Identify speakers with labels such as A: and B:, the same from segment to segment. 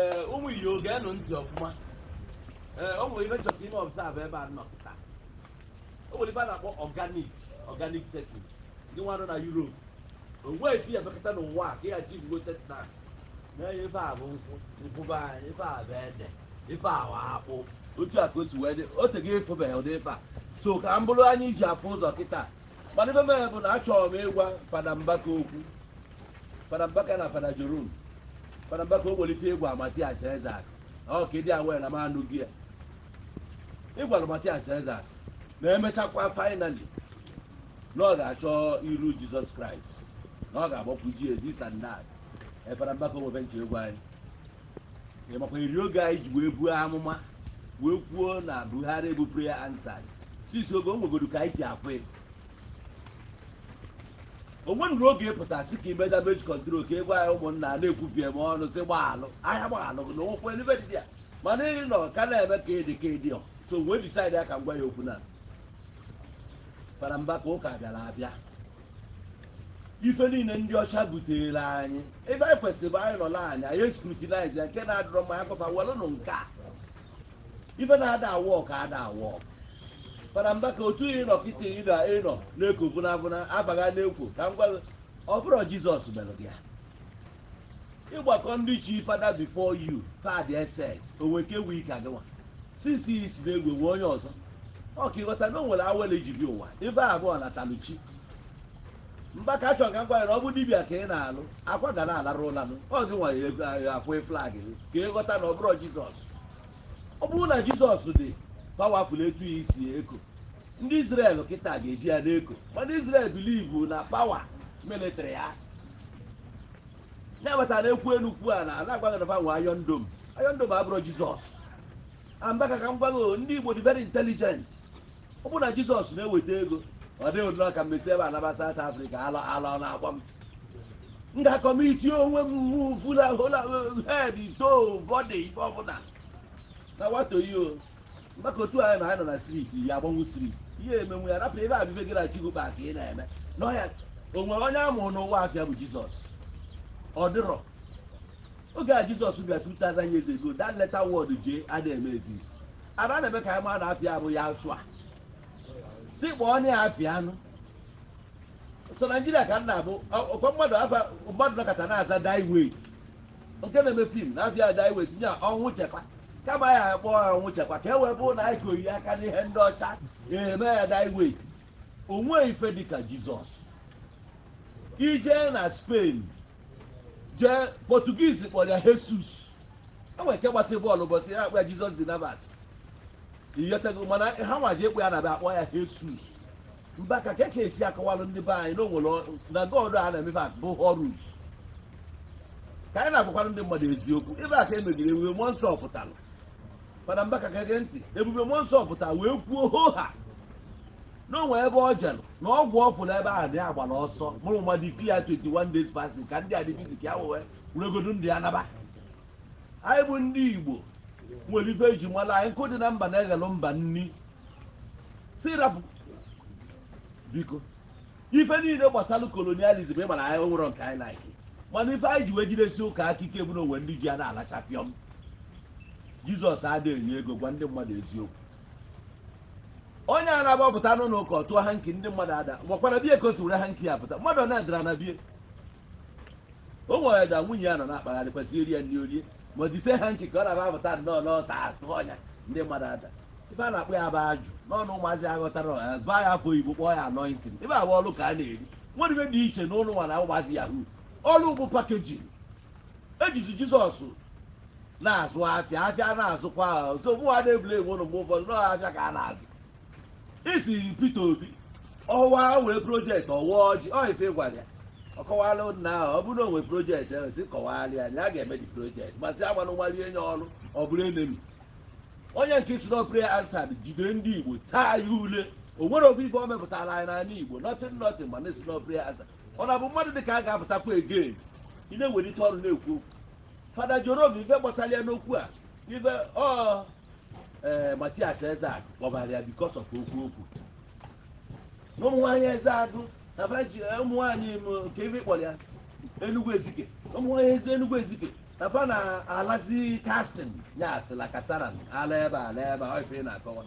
A: ee ụmụ igbo gee nụ ntị ọfụma ee o nwere ife chọrọ ime observe ebe a nọ taa o nwere ife a na-akpọ organic organic settings ndị nwa nọ na Europe o nwee ife ya mekọta n'ụwa a ka ya ji igbo setna na-enye ife a bụ nkwụ nkwụ be anyị ife a bụ ede ife a bụ akpụ otu a ka o si wee dị o tego ịfụbeghị ụdị ife a so ka m bụrụ anya e ji afụ ụzọ kịta mana ife mere bụ na achọrọ m ịgwa fada mbaka okwu fada mbaka na fada jerome fada mbaka o nwere ife ị gwa mathias ezeakụ ọ ka ị dị aware na m anụgo ya ị gwara mathias ezeakụ na emechakwa finally na ọ ga-achọ iru jizọs kraịst na ọ ga-agbakwu ji this and that ee fada mbaka o nwe ife nche ị gwa anyị ị makwa eri oge anụ ị ji wee buo amụma wee kwuo na buhari bụ prayer answered since oge o nwegoro ka anyị si afụ ya o nwenụrụ oge ị pụta sị ka i mee damage control ka ị gwa anyị ụmụnna a na-ekwubi eme ọnụ si gbaalụ ahịa gbaalụ gị na ụkwụ ebe dị ya mana ị nọ ka na-eme ka ịdị ka ịdị ọ so wee decide ya ka m gwa ya okwu na fada mbaka ụka bịara abịa ife niile ndị ọcha butere anyị ebe anyị kwesịrị bụ anyị nọ na anyị anyị escrutinize ya nke na-adịrọ mma ya kọfa welụnụ nke a ife na-ada awork ada awork fada mbaka otu ị nọ kịta ị nọ ị nọ na-eko vụnavụna afa gị na-ekwo ka m gwa gị, ọ bụrọ jizọs mere gị ya ị gbakọọ ndị chi fada before you fad ss o nwe ke wee ka gịnwa since i si na-egwe nwe onye ọzọ ọ ka ị ghọta na o nwere awele e ji bịa ụwa ife a bụ ọnatalụ chi mbaka achọ ka m gwanyere ọ bụ dibia ka ị na-alụ akwa ga na-alarụ ụlanụ ọ gị nwanyere ego ahụ akwụ flag gị ka ị ghọta na ọ bụrọ jizọs ọ bụrụ na jizọs dị powerful etu i si eko ndị israel kịta ga-eji ya na-eko mana israel believe na power military ya na-abata na ekwu elu kwu a na na-agwa gị na fa nwe iron dome iron dome abụrọ jizọs mbaka ka m gwa gị ndị igbo dị very intelligent ọ bụrụ na jizọs na-eweta ego ọ dịghị nnọọ ka m esi ebe a naba South Africa ala ara ọ na-agba m m ga-acommit onwe m mụ fula hola head to body ife ọbụla na wato yi o maka otu anyị na anyị nọ na street ya agbanwu street ihe emenwu ya rapụ ebe abibe gị na chigụba ka ị na-eme n'ọhịa o nwere onye a mụrụ n'ụwa afa ya bụ jizọs ọ dịrọ oge a jizọs bịa 2000 years ago that letter word j ada eme exist ara na-eme ka anyị mara na afa ya bụ ya asụ a si kpọọ onye ya afịa anụ so naijiria ka m na-abụ ọkwa mmadụ afa mmadụ nọkata na-aza Diewait nke na-eme fim na afa ya Diewait nye Ọnwụchekwa kama ya akpọ ya Ọnwụchekwa ka e wee bụrụ na anyị koyi aka n'ihe ndị ọcha eme ya Diewait o nwe ife dịka jizọs i je na spain jee portuguese kpọrọ ya jesus o nwere nke gbasị bọọlụ ụbọchị ya akpọ ya Jesus de Navas ị ghọtago mana ha nwa ji ekwe ya na be akpọ ya jesus Mbaka ka ka esi akọwalụ ndị be anyị na o nwere ọ- na god a na-emefe akụ bụ horus ka anyị na-agwakwara ndị mmadụ eziokwu ebe a ka emebiri ebube mmụọ nsọ pụtara mana Mbaka ka gee ntị ebube mmụọ nsọ pụta wee kwuo hoha na o nwe ebe o jere na ọgwụ ọfụ n'ebe ahụ na ya gbara ọsọ mụrụ mmadụ declare 21 days fasting ka ndị a dị bizi ka ya wee weregodu ndị ana be anyị bụ ndị igbo nwere ife e ji mara anyị nkụ dị na mba na-eghelụ mba nni si rapụ biko ife niile gbasara kolonializm ị mara anyị nwere nke anyị like mana ife anyị ji wee jidesi ụka aka ike bụ na o nwe ndị ji a na-alacha pịọm jizọs adịghị enye ego gwa ndị mmadụ eziokwu onye a na-agbapụta n'ụlọ ụka ọ tụọ hanki ndị mmadụ ada gwakwara bie ka o si were hanki ya pụta mmadụ ọ na-adara na bie o nwere da nwunye ya nọ na-akpagharị kwesịrị iri ya nri orie ma dise hanki ka ọ na-aba apụta nnọọ ọ tụọ ya ndị mmadụ ada ife a na-akpọ ya bụ ajụ n'ọnụ ụmụazị ya ghọtara ọha ba ya afa oyibo kpọọ ya anọintin ife a bụ ọlụ ka a na-eri nwere ife dị iche na ụlụ nwa na ụmụazị yahoo ọlụ bụ pakejin e jizi jizọs na-azụ afịa afịa na-azụkwa ọzọ mụwa na-ebule enwe ụlụ mgbe ụfọdụ na afịa ka a na-azụ isi Peter Obi ọwa wee projekti ọwa ọjị ọ ife gwara ya ọ kọwara nna ahụ ọ bụrụ na o nwere projekti ahụ si kọwara ya na a ga-eme dị projekti ma sị agbanụ nwali enye ọrụ ọ bụrụ enemi onye nke si n'ọpre ansad jide ndị igbo taa ya ule o nwere ofu ife ọ mepụtara anyị n'ala igbo nọtin nọtin ma na-esi n'ọpre ansad ọ na-abụ mmadụ dị ka a ga-apụtakwa egen ị na-ewelite olu na-ekwu okwu fada Jerome ife gbasara ya n'okwu a ife ọ ee eh, Matias Ezeaku kpọbara ya because of okwu o kwu na ụmụ nwaanyị Ezeagụ na fa ji eh, ụmụ nwaanyị nke ebe kpọrọ ya Enugu Ezike ụmụ nwaanyị Enugu Ezike na fa na-alazi kastin ya asịla kasara ala ebe ala ebe ọ ife na-akọwa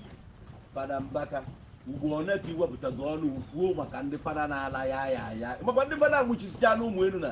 A: fada Mbaka ugbo one ka i wepụtago ọnụ kwuo maka ndị fada na-ala ya ya ya makwa ndị fada nwụchisicha n'ụmụ elu na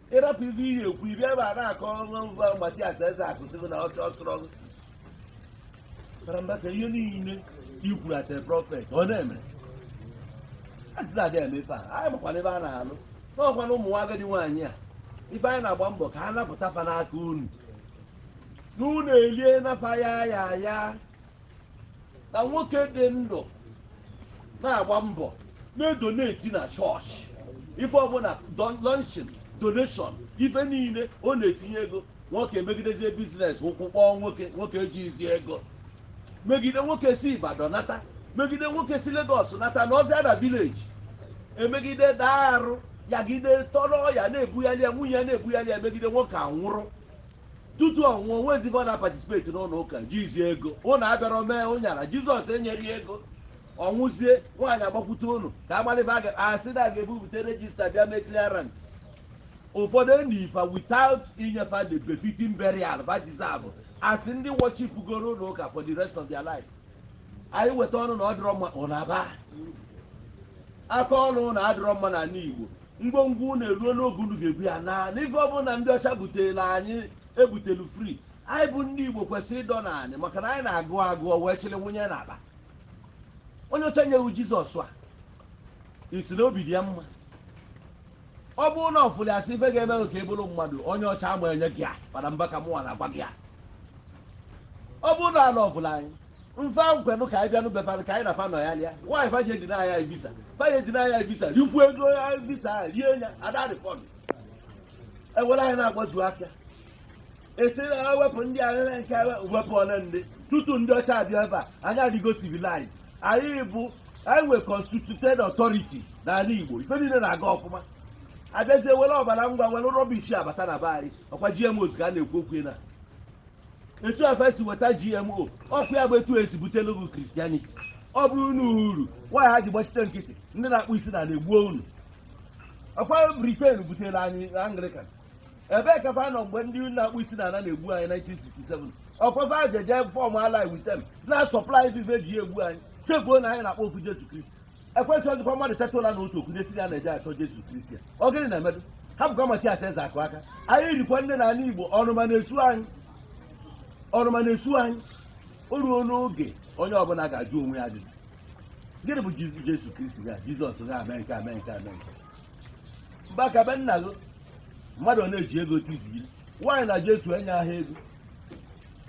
A: ị rapụ ife ị ya-ekwu ị bịa ebe a na-akọ na Matias Ezeaku sịgo na ọsọ ọsọrọ karambata ihe niile i kwuru as a prọfet ọ na-eme asị na-adị eme ife a anyị makwana ebe a na-alụ n'ọkwana ụmụ nwa agadi nwaanyị a ife anyị na-agba mbọ ka a napụta fa n'aka unu na unu elie na fa ya ya ya na nwoke dị ndụ na-agba mbọ na-edoneti na chọọchị ife ọbụna launching donation ife niile ọ na-etinye ego nwoke emegidezie biznes ụkwụ kpọọ nwoke nwoke ejizi ego megide nwoke si Ibadan nata megide nwoke si Lagos nata nọzie na vileji emegide daa arụ yagide tọrọ ya na-ebugharị ya nwunye ya na-ebugharị ya megide nwoke anwụrụ tutu ọ nwụọ o nwezi ive ọ na-apatisipeti n'ụnọ ụka jizi ego unu abịara mee ụnyara jizọs enyere ya ego ọ nwụzie nwaanyị agbakwute unu ka agbalịba aga- a sị na a ga-ebupụta rejista bịa mee clearance ụfọdụ e nie fa without inye fa the befitting burial va deserve asị ndị worship goro n'ụnọ ụka for the rest of their life anyị weta ọnụ na ọ dịrọ mma unu aba aka ọnụ na ọ dịrọ mma n'anị igbo ngwongwo unu eruo n'oge unu ga-ebu ya na ife ọbụna ndị ọcha butere anyị ebutelu fri anyị bụ ndị igbo kwesịrị ịdọ na anyị maka na anyị na-agụ agụụ wee chịrị wụnye n'akpa onye ọcha nye wu jizọs a ị sị na obi dị ya mma ọ bụrụ na ọfụli asị ife ga-eme ka ị bụrụ mmadụ onye ọcha ama enye gị ya mana mba ka mụnwa na-agwa gị a ọ bụrụ na ala ọbụla anyị fa kwenụ ka anyị bịanụ be fa nụ ka anyị na fa nọ ya lịa why fa ji edinaị anyị visa fa ji edinaị anyị visa rikwu ego anyị visa ahụ rie ya ada arifọnd e were anyị na-agbazi afịa a sị na ha wepụ ndị arịrị nke ha wepụ ole ndị tutu ndị ọcha abịa ebe a anyị adịgo civilized anyị bụ anyị nwe constituted authority n'ala igbo ife niile na-aga ọfụma abịazie were ọbara ngwa were rọbish abata na be anyị ọkwa gmos ka a na-ekwu okwu na etu a fa si weta gmo ọkwa ya bụ etu e si butelu gị kristianity ọ bụrụ unu uru why ha ji gbachite nkịtị ndị na-akpọ isi n'ana egbuo unu ọkwa briten butere anyị anglikan ebee ka fa nọ mgbe ndị na-akpọ isi n'ana na-egbu anyị 1967 ọkwa fa jee je fọm ally with them na-asọplai va ive e ji egbu anyị chefuo na anyị na-akpọ ofu jesu kristi ekwesịrọzịkwa mmadụ teta ụla n'otu okwu na-esiri ya na-eje achọ Jesu Kristi ọ gịnị na-emedu abụkwa m Matias Ezeakụ aka anyị rikwa nne n'anị Igbo ọnụma na-esu anyị ọnụma na-esu anyị o ruo n'oge onye ọbụna ga-ajụ onwe ya ajụjụ gịnị bụ Jesu Kristi ga Jizọs ga ame nke ame nke ame nke mba ka be nna gị mmadụ ọ na-eji ego tiziri why na Jesu enye aha ego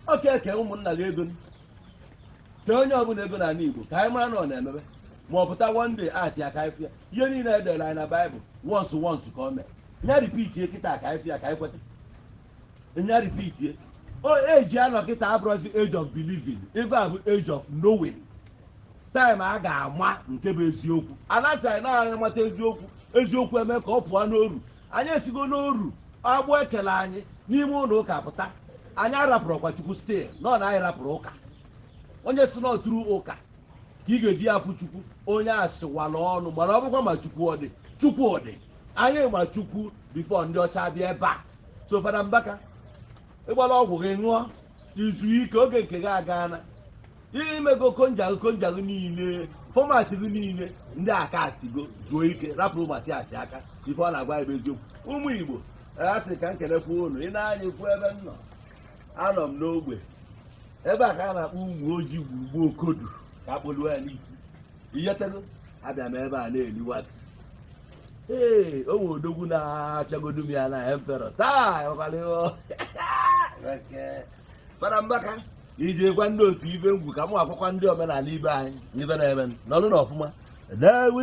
A: o kee ụmụnna gị ego kee onye ọbụna ego n'anị igbo ka anyị mara na ọ na-emebe ma ọ pụta one day ati ya ka anyị fụ ya ihe niile e dere anyị na baịbụl once once ka ọ mee nya ripitie kịta ka anyị fụ ya ka anyị kweta nya ripitie oge a nọ kịta abụrọzi age of believing ife a bụ age of knowing time a ga-ama nke bụ eziokwu a na-asị na onye mata eziokwu eziokwu emee ka ọ pụọ n'oru anyị esigo n'oru agbụ e kele anyị n'ime ụnọ ụka pụta anyị arapụrọkwa chukwu still nọ na anyị rapụrụ ụka onye sị na ọ through ụka ka ị ga-eji ya afụ chukwu onye a sịwala ọnụ mana ọ bụkwa ma chukwu ọ dị chukwu ọ dị anyị ma chukwu before ndị ọcha bịa ebe a so fada mbaka ịgbala ọgwụ gị ṅụọ i zuo ike oge nke gị agaana ihe i mego conjure conjure niile format gị niile ndị a castigo zuo ike rapụrụ mathias aka ife ọ na-agwa ị bụ eziokwu ụmụ igbo a sị ka m kelekwa unu ị nee anya ị fụ ebe m nọ anọ m n'ogbe ebe a ka a na-akpọ umuoji igwulube okodu ka a kpọluo ya n'isi ị ghọtago abịa m ebe a na-eliwasị ee o nwe odogwu na-apịagodu m ya na emperor taa ọkwalịghọ fada mbaka iji gwa ndị otu ibe ngwu ka m gwakwa ndị omenala ibe anyị ife na-eme nọlụnụ ọfụma ndeewo